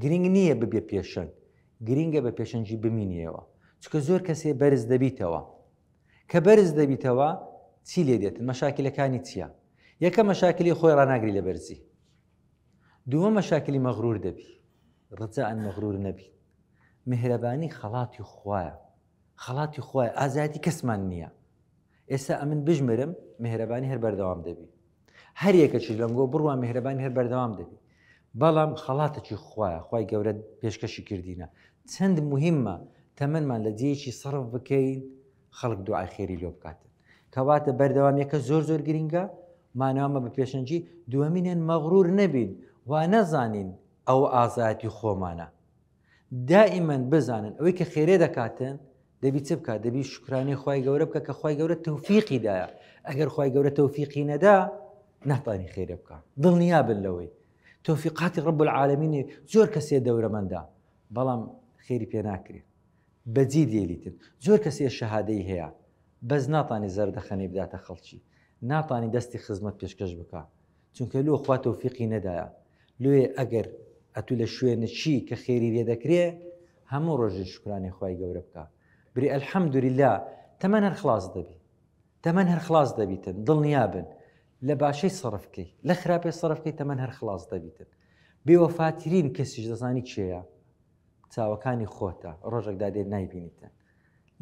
گرنگ نییە ببێ پێشەنگ گرنگە بە پێشەنگی بمینیەوە چکە زۆر کەسێ بەرز دەبیتەوە کە بەرز دەبیتەوە چی لێ دێتن مەشاکلەکانی چییە یەکە مەشاکلی خۆی ڕناگری لە بەرزی دووە مەشاکلی مەغرور دەبی ڕجان مەغرور نەبی مهرەبانی خەڵاتی خویە خەڵاتی خوای ئازایەتی کەسمان نییە ئێستا ئەمن بژمرم مهرەبانی هەر بەردەوام دەبی هەر یەکەچی لەنگۆ بڕوا میهرەبانی هەر بەردەوام دەبی بەڵام خەڵاتەکی خوایە خی گەورە پێشکەشی کردینە چەند مهمە تەمەمان لە جێکی سەرف بکەین خەڵک دوعای خێری لۆ بکاتن کەواتە بەردەوام یەکە زۆر زۆر گرنگە مانامە بە پێشەنجی دووەمینێن مەغرور نەبین وا نەزانین ئەو ئازایەتی خۆمانە دائیمەن بزانن ئەوەی کە خێرێ دەکاتن دەبی چ بکات دەبی شکرانی خی گەورە بکە کە خی گەورە تەوفیقی دایە ئەگەر خی گەورە تەوفیقی نەدا ناتانی خێرێ بکە دڵنیا بن لەوەی تۆفیقاتی ڕب العالمینی زۆر کەسێ دەورەمەندا بەڵام خێری پێ ناکرێت بەجی لێلیتن زۆر کەسێ شەهادەی هەیە بەس ناتانی زەردەخەنەی بداتە خەڵکی ناتانی دەستی خزمەت پێشکەش بکە چونکە لۆ خوا تەوفیقی نەدایە لۆیێ ئەگەر ئەتوو لە شوێنە چی کە خێری لێ دەکرێ هەموو ڕۆژێ شکرانی خوای گەورە بکە بری ئەلحەمدوریلا تەمەەن هەر خلاص دەبی تەمەەن هەر خلاص دەبیتن دڵنیابن لە باشەی سەرفکەی لە خراپێ سەرفکەی تەمەەن هەر خلاص دەبیتن بێوەفاترین کەسیش دەزانی چێە چاوەکانی خۆتە ڕۆژێکدا دێت نایبینیتن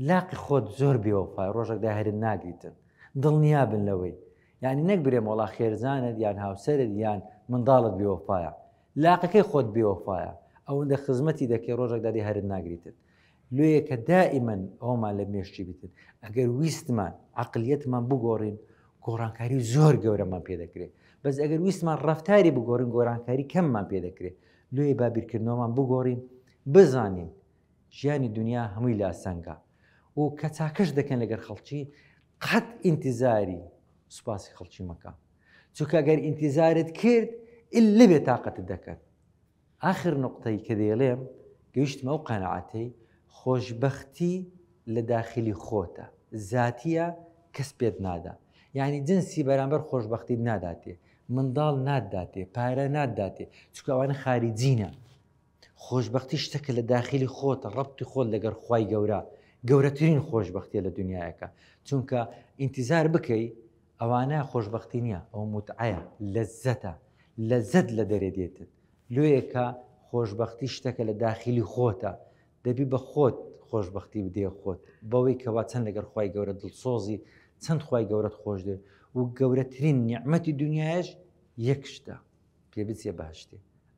لاقی خۆت زۆر بێوەفای ڕۆژەک داهێرن ناگریتن دڵنیابن لەوەی یعنی نەک برێم وەڵا خێرزانت یان هاوسەرت یان منداڵت بێوەفایە لاقەکەی خۆت بێوەفایە ئەوەندە خزمەتی دەکەی ڕۆژەک دادی هەرت ناگریتن لێ کە دائیمەن ئەومان لە مێشتی بتن ئەگەر ویستمان عقلیەتمان بگۆڕین گۆڕانکاری زۆر گەورەمان پێ دەکرێت بەس ئەگەر ویستمان ڕفتاری بگۆڕین گۆرانکاری کەممان پێ دەکرێت لێ بابیرکردنەوەمان بگۆڕین بزانین ژیانی دونیا هەمووی لاسەنگە و کە چاکەش دەکەن لەگەر خەڵکی قەت ئینتیزاری سوپاسی خەڵکی مەکە چونکە گەر ئینتیزارت کرد ئللە بێ تااقەتت دەکەن ئاخر نقطەی کە دەیڵێم گەیشتمە ئەو قەنەعاتەی خۆشببختی لە داخلی خۆتە زاتیە کەس پێت نادا یعنی جنسی بەرامبەر خۆشببختیت ناداتێ منداڵ ناداتێ پارە ناداتێ چکەوانە خاریجینە خۆشبەختی شتەکە لە داخیلی خۆتە ڕەبتی خۆت لەگەر خوای گەورە گەورەترین خۆشبەختیە لە دنیایەکە چونکە ئینتیزار بکەی ئەوانە خۆشببختی نییە ئەو متعەیە لە زەتە لە زەت لە دەرێ دێتت لۆیەکە خۆشببختی شتەکە لە داخیلی خۆتە دەبی بە خۆت خۆشببختی بدێ خۆت بەوەی کەوا چەند لەگەر خی گەورە دڵسۆزی چەند خی گەورەت خۆش دێ و گەورەترین نیعممەتی دنیاش یەک شتە پێ بچێ باشتێ